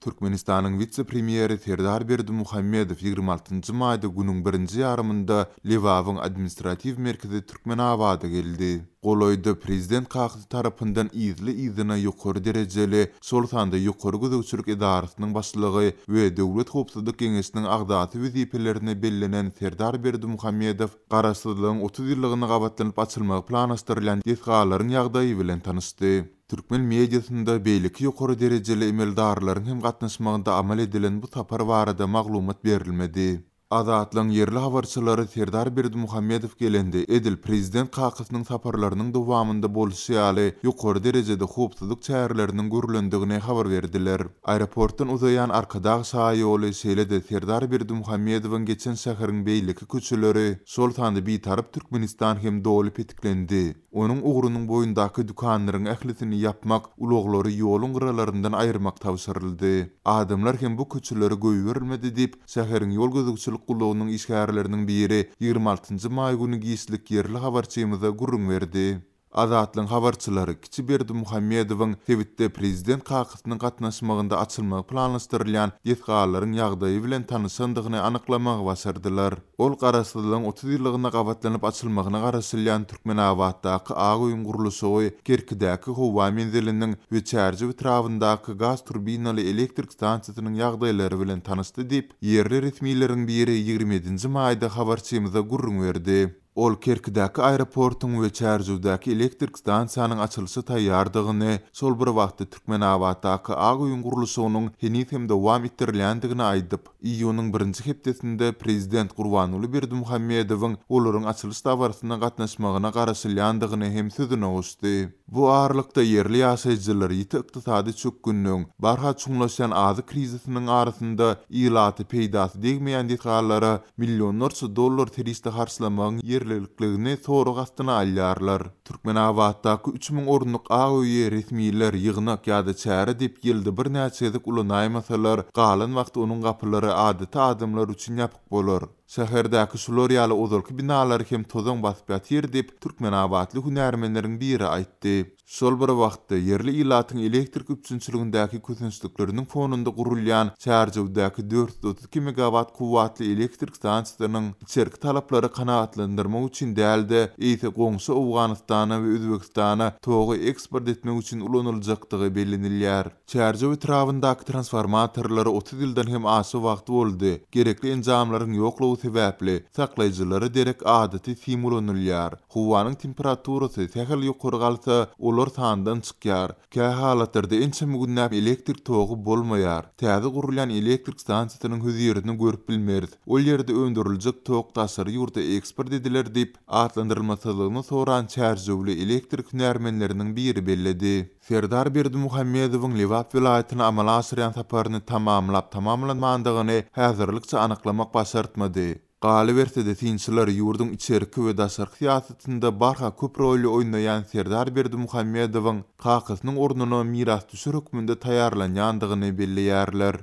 Türkmenistanyň wise-premýeri Serdar Berdimuhamedow ýigrimi altynjy maýda günüň birinji ýarymynda Lebabyň administratiw merkezi Türkmenabada geldi. Golaýda prezident kakasy tarapyndan yzly-yzyna ýokary derejeli, şol sanda Ýokary gözegçilik edarasynyň başlygy we Döwlet howpsuzlyk geňeşiniň agzasy wezipelerine bellenen Serdar Berdimuhamedow Garaşsyzlygyň otuz ýyllygyna gabatlanyp açylmagy planlaşdyrylýan desgalaryň ýagdaýy bilen tanyşdy. Türkmen mediasynda beýleki ýokary derejeli emeldarlaryň hem gatnaşmagynda amal edilen bu sapar barada maglumat berilmedi. Azatlygyň ýerli habarçylary Serdar Berdimuhamedow gelende edil prezident kakasynyň saparlarynyň dowamynda bolşy ýaly ýokary derejede howpsuzlyk çäreleriniň görlendigini habar berdiler. Aeroportdan uzaýan Arkadag şaýoly şeýle-de Serdar Berdimuhamedowyň geçen şäheriň beýleki köçeleri, şol sanda Bitaryp Türkmenistan hem doly petiklendi. Onuň ugrunyň boýundaky dükanlaryň ählisini ýapmak, ulaglary ýoluň gyralaryndan aýyrmak tabşyryldy. Adamlar hem bu köçeleri goýberilmedi diýip, şäheriň ýol gözegçilik gullugynyň işgärleriniň biri ýigrimi altynjy maý güni giçlik ýerli habarçymyza gürrüň berdi. Azatlygyň habarçylary Kiçi Berdimuhamedowyň sebitde prezident Ýaşynyň gatnaşmagynda açylmagy planlaşdyrylýan desgalaryň ýagdaýy bilen tanyşandygyny anyklamagy başardylar. Ol Garaşsyzlygyň otuz ýyllygynda gabatlanyp açylmagyna garaşylýan Türkmenabatdaky Ak öýüň gurluşygy, Kerkidäki howa menziliniň we Çärjew etrabyndaky gaz turbinaly elektrik stansiýasynyň ýagdaýlary bilen tanyşdy diýip, ýerli resmileriň biri ýigrimi ýedinji maýda habarçymyza gürrüň berdi. Ol Kerkidäki aeroportyň we Çärjewdäki elektrik stansiýanyň açylyşa taýýardygyny, şol bir wagtda Türkmenabatdaky ak öýüň gurluşygynyň heniz hem dowam etdirilýändigini aýdyp, iýunyň birinji hepdesinde prezident Gurbanguly Berdimuhamedowyň olaryň açylyş dabarasyna gatnaşmagyna garaşylýandygyny hem sözüne goşdy. Bu aralykda, ýerli ýaşaýjylar ýiti ykdysady çökgünligiň, barha çuňlaşýan azyk krizisiniň arasynda ilaty peýdasy degmeýän desgalara millionlarça dollar serişde harçlamagyň ýerlilikligini sorag astyna alýarlar. Türkmenabatdaky üç müň orunlyk ak öýi resmiler ýygnak ýa-da çäre diýip ýylda birnäçe gezek ulanaýmasalar, galan wagty onuň gapylary adaty adamlar üçin ýapyk bolar. Şäherdäki şular ýaly ozalky binalary hem tozaň basyp ýatyr diýip, türkmenabatly hünärmenleriň biri aýtdy. Şol bir wagtda, ýerli ilatyň elektrik üpjünçiligindäki kösençlikleriniň fonunda gurulýan Çärjewdäki dört ýüz otuz iki megawat kuwwatly elektrik stansiýasynyň içerki talaplary kanagatlandyrmak üçin däl-de, eýse goňşy Owganystana we Özbegistana togy eksport etmek üçin ulanyljakdygy bellenilýär. Çärjew etrabyndaky transformatorlara otuz ýyldan hem aşa wagt boldy, gerekli enjamlaryň ýoklugy sebäpli, saklaýjylara derek adaty sim ulanylýar. Howanyň temperaturasy sähel ýokary galsa, olar sandan çykýar. Kähalatlarda ençeme günläp elektrik togy bolmaýar. Täze gurulýan elektrik stansiýasynyň hözirini görüp bilmeris. Ol ýerde öndüriljek tok daşary ýurda eksport ediler diýip, atlandyrylmasyzlygyny soran çärjewli elektrik hünärmenleriniň biri belledi. Serdar Berdimuhamedowyň Lebap welaýatyna amala aşyrýan saparyny tamamlap tamamlanmandygyny häzirlikçe anyklamak başartmady. Galyberse-de synçylar ýurduň içerki we daşarky syýasatynda barha köp roly oýnaýan Serdar Berdimuhamedowyň kakasynyň ornuna mirasdüşer hökmünde taýýarlanýandygyny belleýärler.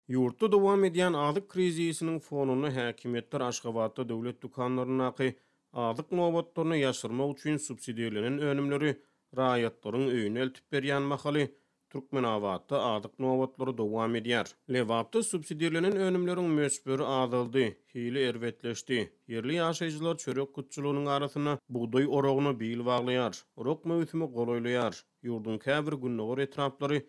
Ýurtda dowam edýän azyk krizisiniň fonunda häkimiýetler Aşgabatda döwlet dükanlaryndaky Azyk nobatlaryny ýaşyrmak üçin subsidirlenen önümleri raýatlaryň öýüne eltip berýän mahaly, Türkmenabatda azyk nobatlary dowam edýär. Lebapda subsidirlenen önümleriň möçberi azaldy, hili erbetleşdi. Ýerli ýaşaýjylar çörek gutçulygynyň arasynda bugdaý oragyna bil baglaýar. Orak möwsümi golaýlaýar. Ýurduň käbir gündogar etraplary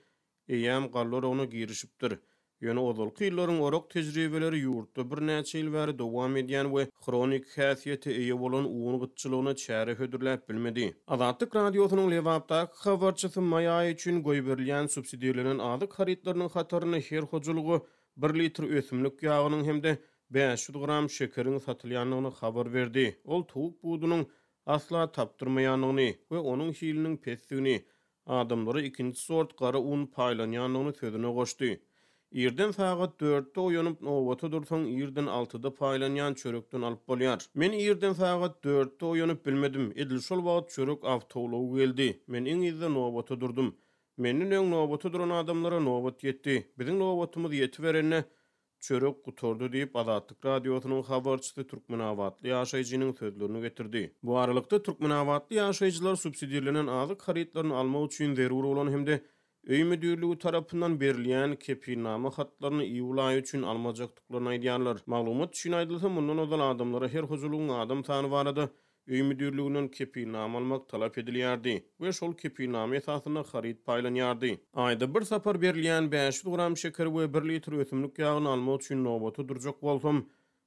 eýýäm galla oragyna girişipdir. Ýöne ozalky ýyllaryň orak tejribeleri ýurtda birnäçe ýyl bäri dowam edýän we hroniki häsiýete eýe bolan un gytçylygyna çäre hödürläp bilmedi. Azatlyk Radiosynyň Lebapdaky habarçysy maý aýy üçin goýberilýän subsidirlenen azyk harytlarynyň hatarynda her hojalyga bir litr ösümlik ýagynyň hem-de bäş ýüz gram şekeriň satylýandygyny habar berdi. Ol towuk budunyň asla tapdyrmaýandygyny we onuň hiliniň pesdigini, Adamlara ikinji sort gara un paýlanýandygyny sözüne goşdy. Irden sagat dörtde oýanyp, nobata dursaň, irden altyda paýlanýan çörekden alyp bolýar. Men irden sagat dörtde oýanyp bilmedim. Edil şol wagt çörek awtoulagy geldi. Men iň yzda nobata durdum. Menden öň nobata duran adamlara nobat ýetdi. Biziň nobatymyz ýetiberende, Çörek gutardy diýip, Azatlyk Radiosynyň habarçysy türkmenabatly ýaşaýjynyň sözlerini getirdi. Bu aralykda, türkmenabatly ýaşaýjylar subsidirlenen azyk harytlaryny almak üçin zerur bolan hem-de Öý müdirligi tarapyndan berilýän kepilnama hatlaryny iýul aýy üçin almajakdyklaryny aýdýarlar. Maglumat üçin aýdylsa, mundan ozal adamlara her hojalygyň adam sany barada Öý müdirliginden kepilnama almak talap edilýärdi we şol kepilnama esasynda haryt paýlanýardy. Aýda bir sapar berilýän bäş ýüz gram şekeri we bir litr ösümlik ýagyny almak üçin nobata durjak bolsam,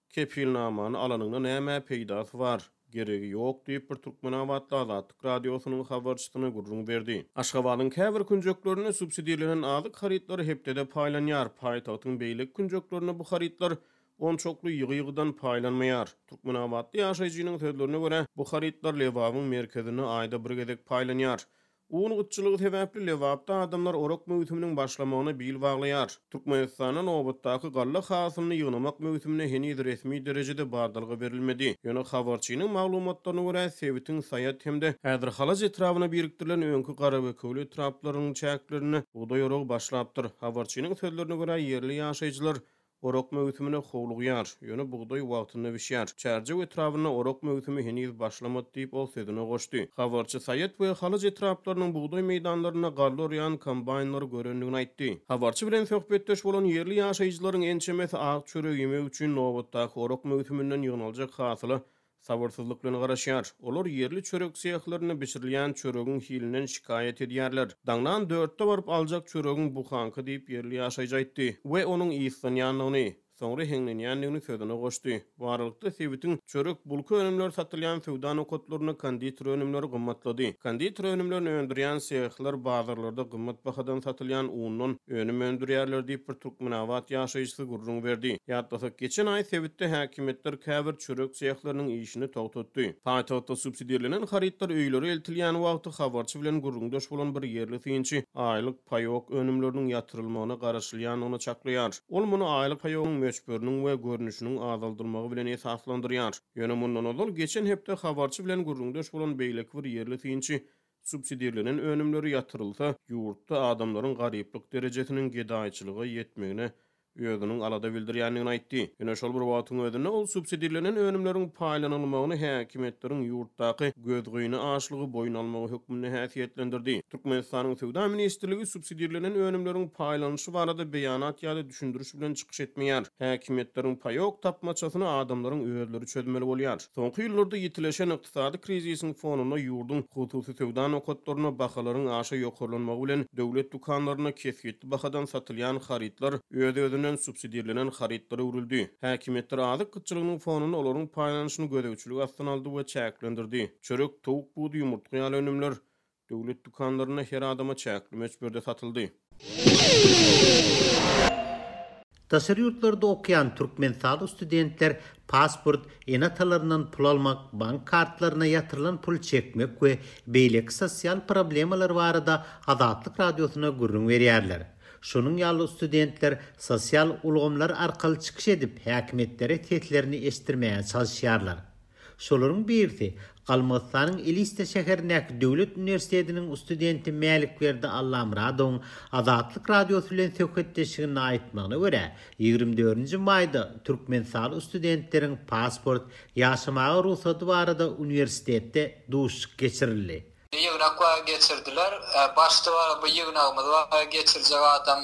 kepilnamany alanyňda nämä peýdasy bar, geregi ýok diýip, bir türkmenabatly Azatlyk Radiosynyň habarçysyna gürrüň berdi. Aşgabadyň käbir künjeklerinde subsidirlenen azyk harytlary hepdede paýlanýar, paýtagtyň beýleki künjeklerinde bu harytlar onçakly ýygy-ýygydan paýlanmaýar. Türkmenabatly ýaşaýjynyň sözlerine görä, bu harytlar Lebabyň merkezinde aýda bir gezek paýlanýar. Un gytçylygy sebäpli Lebapda adamlar orak möwsüminiň başlamagyna bil baglaýar. Türkmenistanda nobatdaky galla hasylyny ýygnamak möwsümine heniz resmi derejede badalga berilmedi. Ýöne habarçynyň maglumatlaryna görä, sebitiň Saýat hem-de Häzirhalaç etrabyna birikdirilen öňki Garabekewli etraplarynyň çäklerinde bugdaý oragy başlapdyr. Habarçynyň sözlerine görä, ýerli ýaşaýjylar Orak möwsümine howlugýar. Ýöne bugdaý wagtynda bişýär. Çärjew etrabynda orak möwsümi heniz başlamady diýip, ol sözüne goşdy. Habarçy Saýat we Halaç etraplarynyň bugdaý meýdanlarynda galla orýan kombaýnlary görendigini aýtdy. Habarçy bilen söhbetdeş bolan ýerli ýaşaýjylaryň ençemesi ak çöregi ýemek üçin nobatdaky orak möwsüminden ýygnaljak hasyla Sabyrsyzlyk bilen garaşýar. Olar ýerli çörek sehlerinde bişirilýän çöregiň hilinden şikaýat edýärler. Daňdan dörtde baryp aljak çöregiň buhaňky diýip ýerli ýaşaýjy aýtdy we onuň yslanýandygyny, soňra heňlenýändigini sözüne goşdy. Baralykda sebitiň çörek, bulka önümleri satylýan söwda nokatlarynda konditer önümleri gymmatlady. Konditer önümlerini öndürýän sehler bazarlarda gymmat bahadan satylýan undan önüm öndürýärler diýip bir türkmenabat ýaşaýjysy gürrüň berdi. Ýatlasak, geçen aý sebitde häkimiýetler käbir çörek sehleriniň işini togtatdy. Paýtagtda subsidirlenen harytlar öýlere eltilýän wagty habarçy bilen gürrüňdeş bolan bir ýerli synçy aýlyk paýok önümleriniň ýatyrylmagyna garaşylýandygyny çaklaýar. Ol muny aýlyk paýogyň möçberiniň we görnüşiniň azaldylmagy bilen esaslandyrýar. Ýöne mundan ozal, geçen hepde habarçy bilen gürrüňdeş bolan beýleki bir ýerli synçy Subsidirlenen önümleri ýatyrylsa, ýurtda adamlaryň garyplyk derejesiniň gedaýçylyga ýetmegine özüniň alada bildirýändigini aýtdy. Ýöne şol bir wagtyň özünde ol subsidirlenen önümleriň paýlanylmagyny häkimiýetleriň ýurtdaky gözgyny açlygy boýun almagy hökmünde häsiýetlendirdi. Türkmenistanyň Söwda ministrligi subsidirlenen önümleriň paýlanyşy barada beýanat ýa-da düşündiriş bilen çykyş etmeýär. Häkimiýetleriň paýok tapmaçasyny adamlaryň özleri çözmeli bolýar. Soňky ýyllarda ýitileşen Ykdysady krizisiň fonunda ýurduň hususy söwda nokatlarynda bahalaryň aşa ýokarlanmagy bilen döwlet dükanlarynda kesgitli bahadan satylýan harytlar öz-özünden subsidirlenen harytlara öwrüldi. Häkimiýetler azyk gytçylygynyň fonunda olaryň paýlanyşyny gözegçilik astyna aldy we çäklendirdi. Çörek, towuk budy, ýumurtga ýaly önümler Döwlet dükanlarynda her adama çäkli möçberde satyldy. Daşary ýurtlarda okaýan türkmenistaly studentler pasport, ene-atalaryndan pul almak, bank kartlaryna ýatyrylan puly çekmek we beýleki sosial problemalar barada Azatlyk Radiosyna gürrüň berýärler. Şonuň ýaly studentler sosial ulgamlar arkaly çykyş edip, häkimiýetlere seslerini eşitdirmäge çalyşýarlar. Şolaryň birisi, Galmygystanyň Eliste şäherindäki döwlet uniwersitetiniň studenti Mälikberdi Allamyradowyň Azatlyk Radiosy bilen söhbetdeşliginde aýtmagyna görä, ýigrimi dördünji maýda türkmenistaly studentleriň pasport, ýaşamaga rugsady barada uniwersitetde duşuşyk geçirildi. Ýygnak bar geçirdiler. Başda bar bu ýygnagymyz bar geçirjek adam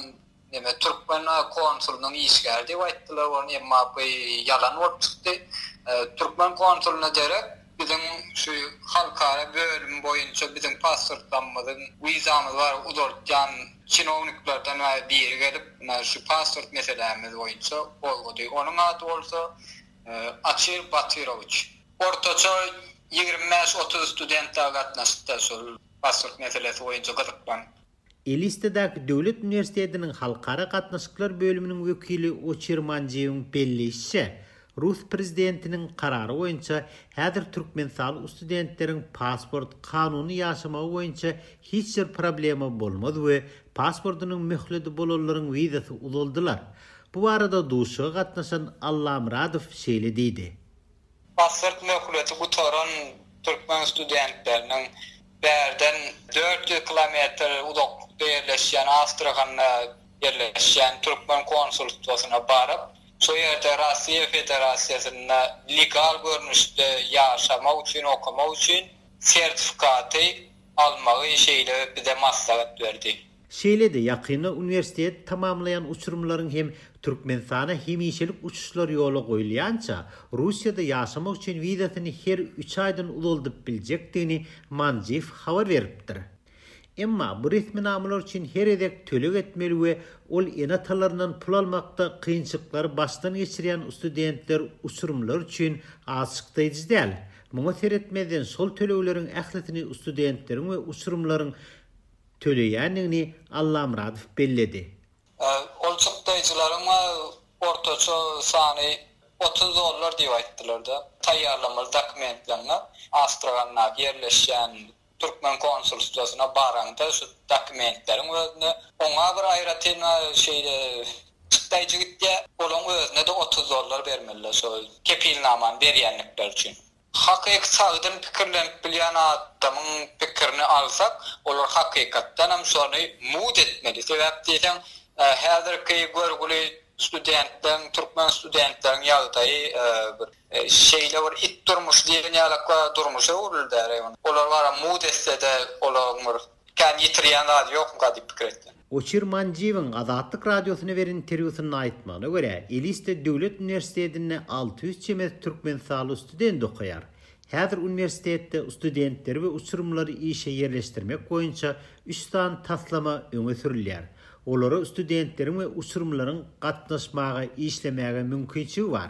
Neme türkmen konsulynyň işgäri diýip aýtdylar ony, emma bu ýalan bolup çykdy. Türkmen konsulyna derek biziň şu halkara bölüm boýunça biziň pasportlarymyzyň, wizamyz bar uzaltýan çinowniklerden biri gelip, mundan şu pasport meselämiz boýunça gozgady. Onuň ady bolsa Açir Batyrowiç. Ortaça ýigrimi bäş-otuz student-ä gatnaşypdy şol pasport meselesi boýunça gyzyklanyp. Elistedäki döwlet uniwersitetiniň halkara gatnaşyklar bölüminiň wekili Oçir Manjiýewiň belleýşiçe, rus prezidentiniň karary boýunça häzir türkmenistaly studentleriň pasport, kanuny ýaşamagy boýunça hiç bir problema bolmaz we pasportynyň möhledi bolanlaryň wizasy uzaldylar. Bu barada duşuşyga gatnaşan Allamyradow şeýle diýdi. Pasport möhleti gutaran türkmen studentleriniň bärden dört ýüz kilometr uzaklykda ýerleşýän Astrahanda ýerleşýän türkmen konsulstwasyna baryp, şo ýerde Russiýa Federasiýasynda legal görnüşde ýaşamak üçin, okamak üçin sertifikaty almagy şeýle bize maslahat berdi. Şeýle-de ýakynda uniwersiteti tamamlaýan uçurymlaryň hem Türkmenistana hemişelik uçuşlary ýola goýulýança, Russiýada ýaşamak üçin wizasyny her üç aýdan uzaldyp biljekdigini Manjiv habar beripdir. Emma bu resminamalar üçin her gezek töleg etmeli we ol ene-atalaryndan pul almakda kynçylyklary başdan geçirýän studentler uçurymlar üçin alçykdaýjy däl. Muňa seretmezden şol tölegleriň ählisini studentleriň we uçurymlaryň töleýändigini Allamyradow belledi. Ol çykdaýjylaryň ortaça sany otuz dollar diýip aýtdylar-da. Taýýarlamaly dokumentleňňe Astrahandaky ýerleşýän türkmen konsulstwasyna baraňda şu dokumentleriň özüne oňa bir aýratyn şeýle çykdaýjy gitýär, olaň özüne-de otuz dollar bermeliler şol kepilnamany berýändikleri üçin. Hakyky sagdyn pikirlenip bilýän adamyň pikirini alsak, olar hakykatdan hem şony mud etmeli. Sebäp diýseň, häzirki görgüli studentleriň, türkmen studentleriň ýagdaýy bir şeýle bir it durmuş diýen ýalak durmuşa öwrüldi. Olar bara mud etse-de, olaryň bir Kän ýitirýän zady ýokmyka diýip pikir etdim. Goçir Manjiýewiň Azatlyk Radiosyna beren interwýusynda aýtmagyna görä, Elisde döwlet uniwersitetinde alty ýüz çemesi türkmenistanly student okaýar. Häzir uniwersitetde studentleri we uçurymlary işe ýerleşdirmek boýunça üç sany taslama öňe sürülýär. Olara studentleriň we uçurymlaryň gatnaşmaga, işlemäge mümkinçigi bar.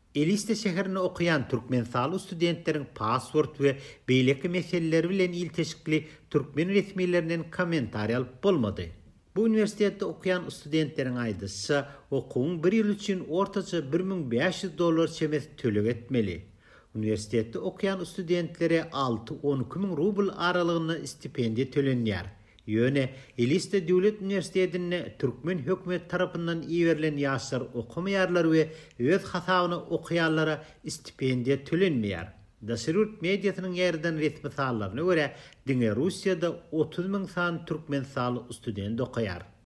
Eliste şäherinde okaýan türkmenistaly studentleriň pasport we beýleki meseleleri bilen ilteşikli türkmen resmilerinden kommentariý alyp bolmady. Bu uniwersitetde okaýan studentleriň aýdyşyça, okuwyň bir ýyly üçin ortaça bir müň bäş ýüz dollar çemesi töleg etmeli. Uniwersitetde okaýan studentlere alty-on iki müň rubl aralygynda stipendiýa tölenýär, Ýöne Elista döwlet uniwersitetinde türkmen hökümeti tarapyndan iberilen ýaşlar okamaýarlar we öz hasabyna okaýanlara stipendiýa tölenmeýär. Daşary ýurt mediasynyň ýaýradan resmi sanlaryna görä, diňe Russiýada otuz müň sany türkmenistanly student okaýar.